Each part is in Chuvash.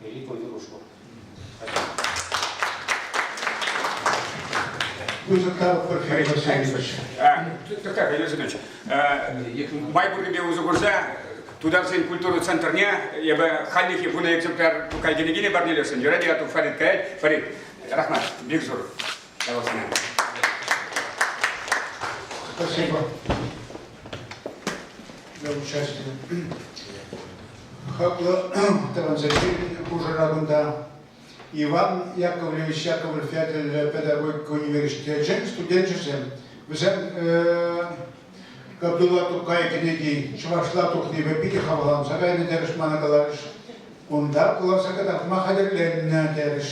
Великую дружбу. Ну, как Владимир Васильевич, май пуррипе усӑ курса тутарсен культура центрне эбе халлихи вуна экземпляр тукай киле парнелесен юрать я тут Фарид каять Фарид рахмат бик зур Яваплӑ. Спасибо. Для участия. Хаклӑ транзитри хушӑра кунта Иван Яковлевич Яковлев ятӗллӗ педагогика университечӗн студенчӗсем. Вӗсем Кабдулла Тукай кӗнеки чӑвашла тухнипе питӗ хавхаланса кайнӑ терӗҫ мана каларӗҫ. Унта кӑларса кӑтартма хатӗрленнӗ терӗҫ.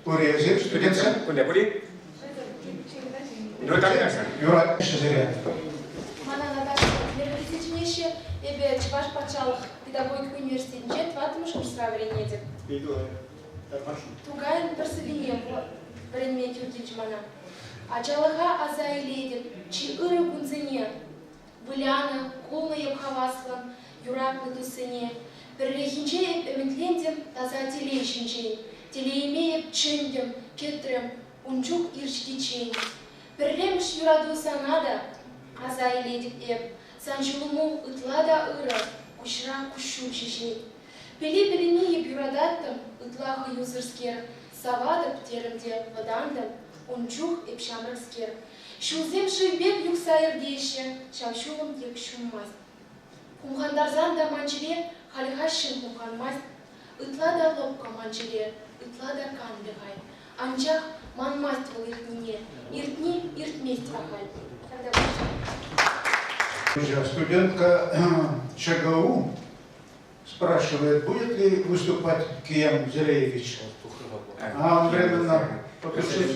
Пуринсем студентсем? Кунта пулин? Юратаҫҫӗ? Юратаҫҫӗ сире. Мана Наташа университет чӗнеҫҫӗ. Эпӗ Чӑваш патшалӑх педагогика университетӗнче тӑваттӑмӗш курсра вӗренетӗп. Тукайӑн пӗр сӑвине вӗренме тӳр килчӗ мана. Ачалӑха аса илетӗп, чи ырӑ кунсене. вылянӑ, кулнӑ йӑмхаваслӑн юратнӑ туссене. Пӗрлехинче эп ӗмӗтлентӗм таса телей ҫинчен, телейӗме эп чӗнтӗм, кӗтрӗм ун чух ирҫкиччен. Пӗрремӗш юрату сана та аса илетӗп эп, сан ҫулӑму ытла та ырӑ, куҫра куҫҫуль ҫеҫен. Пӗли-пӗлине эп юрататтӑм, ытла хӑюсӑрскер, саватӑп, терӗм те вӑтантӑм ун чух эп ҫамрӑкскер, Ҫулсем шыв пек юхса иртеҫҫӗ, ҫав ҫулӑм тек ҫунмасть. Хумхантарсан та ман чӗре хальхаҫҫӑн хумханмасть, ытла та лӑпкӑ ман чӗре, ытла та канлӗ хай. Анчах манмасть вӑл иртнине, иртни иртмест ахаль. Тата пуҫа. Студентка ЧГУ спрашивает, будет ли выступать Киям Зереевич. А он временно покушать.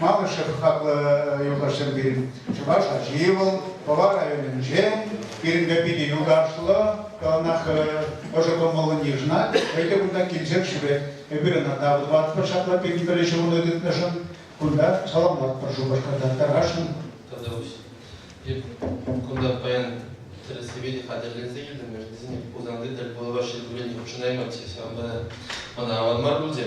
Малышев хаклӑ юлташсем пирӗн чӑваш ачи вӑл Пӑва районӗнче. Пирӗнпе питӗ юлташлӑ, ӑнах ӑшӑ кӑмӑллӑн йышӑнать. Хӑй те кунта килсекшӗпе эпир ӑна тав тӑватпӑр ҫапла пирӗн пӗрле ҫурӑну тытнӑшӑн. Кунта саламлатпӑр шупашкарта тархасшӑн. Кунта паян тӗрӗссипе те хатӗрленсе килтӗмӗр. Вӗсене Хусанти тӗл пулӑва ҫӗнтерменни хутшӑнаймать, ҫавӑнпа та ӑна аван мар пулчӗ.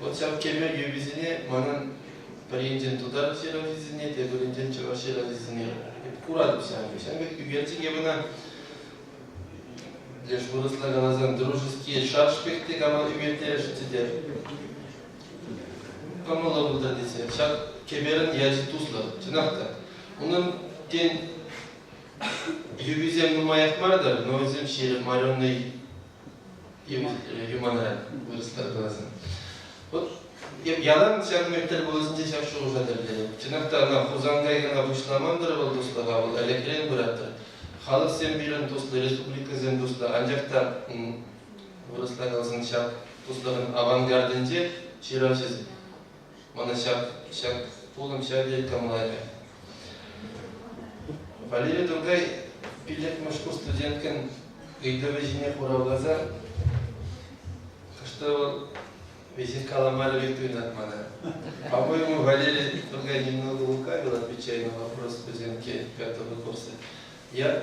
Вот ҫав кӗме юписене манӑн пӗринчен тутар ҫыравҫисене, тепӗринчен чӑваш ҫыравҫисене куратӑп ҫавӑн пек. Ҫавӑн пек ӳкерчӗке кӑна леш вырӑсла каласан дружеские шашки те кама ӳкертересшӗнччӗ те кӑмӑллӑ пултӑр тесе. Ҫак кӗперӗн ячӗ туслӑ, чӑнах та. Унӑн тен юписем нумаях мар-тӑр, но вӗсем ҫирӗп, моренный юмана вырӑслар каласан. Вот ялан ҫак мектеп пулӑсенче ҫак шухӑша тӗллеве. Чӑнах та ӑна Хусан кайрана пуҫламан-тӑр вӑл туслӑха, вӑл ӗлӗкрен пыратӑр. Халӑхсем пирӗн туслӑ, республикӑсем туслӑ, анчах та вырӑсла каласан ҫак туслӑхӑн авангардӗнче ҫыравҫӑсем Мана ҫак, ҫак пулӑм ҫаве тӑмларӗ. Валерий Тургай пиллӗкмӗш студенткӑн ыйтӑвӗ ҫине хуравласа хӑш-то вӑл веҫех каламарӗ пек туйӑнать мана. По-моему, Валерий Тургай немного лукавил, отвечая на вопрос студентки Петра Буковца. Я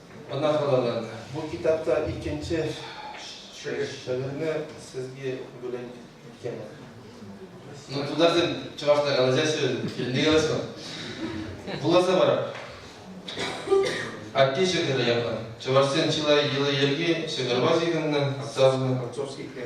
ӑна халалланӑ. Бу китапта иккӗнче шӗвӗрне сізге бүлен иккен. Ну, тутарсем чӑвашла калаҫаҫҫӗ, килне калаҫма. Вуласа пар. Атте ҫӑкӑрӗ япа. Чӑвашсен чылай йӑли-йӗрки ҫӑкӑрпа ҫыхӑннӑ, савнӑ. Отцовскихре.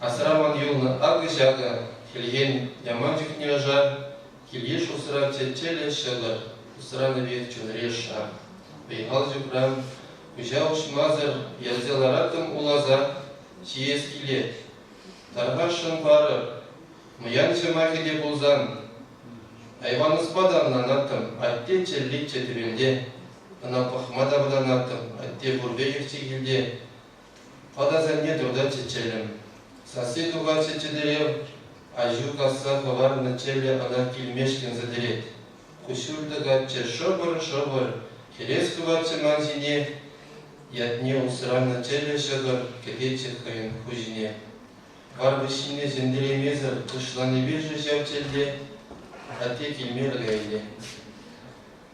Асраман юлнӑ акӑ-ҫакӑ, хӗлхен яман чухне ӑшар, килйыш усрав чечелӗ ҫӑтӑр, усранӑ пек чунри-ша. Вӑй-хал ҫукран, куҫа уҫмасӑр, ярса лараттӑм уласа, ҫиес килет. Тархасшӑн парӑр, мӑян ҫӑмахӗ те пулсан. Айванӑспа та ӑнланаттӑм, атте чӗлличчӗ тӗвенте. Ӑна пӑхма та вӑтанаттӑм, атте пурпе иртсе килте. Пӑт асанне туртатчӗ чӗлӗм. Сасси тухатчӗ чӗтӗрев, аҫу касса хӑварнӑ чӗлӗ ӑна килмешкӗн сӗтӗрет. Куҫҫуль тӑкатчӗ шӑпӑр-шӑпӑр, хӗрес хыватчӗ ман ҫине. Ятне усранӑ чӗлӗ ҫӑкӑр кӗтетчӗ хӑйӗн хуҫине. Варпӑҫҫине сӗнкӗлемесӗр кӑшланипе-ши ҫав чӗлле? Атте килмерӗ ӗнтӗ.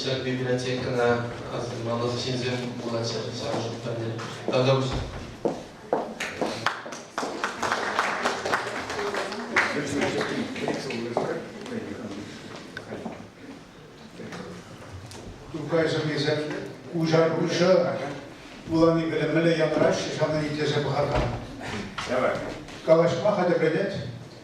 Ҫак библиотекӑна асӑнмалӑх ҫынсем пулаҫҫӗ ҫавӑншӑн тата Тукай сӑнисем куҫар куҫа вулани пӗлӗмлӗ янраҫҫӗ ҫавна итлесе пӑхакан. Калаҫма хатӗрленет.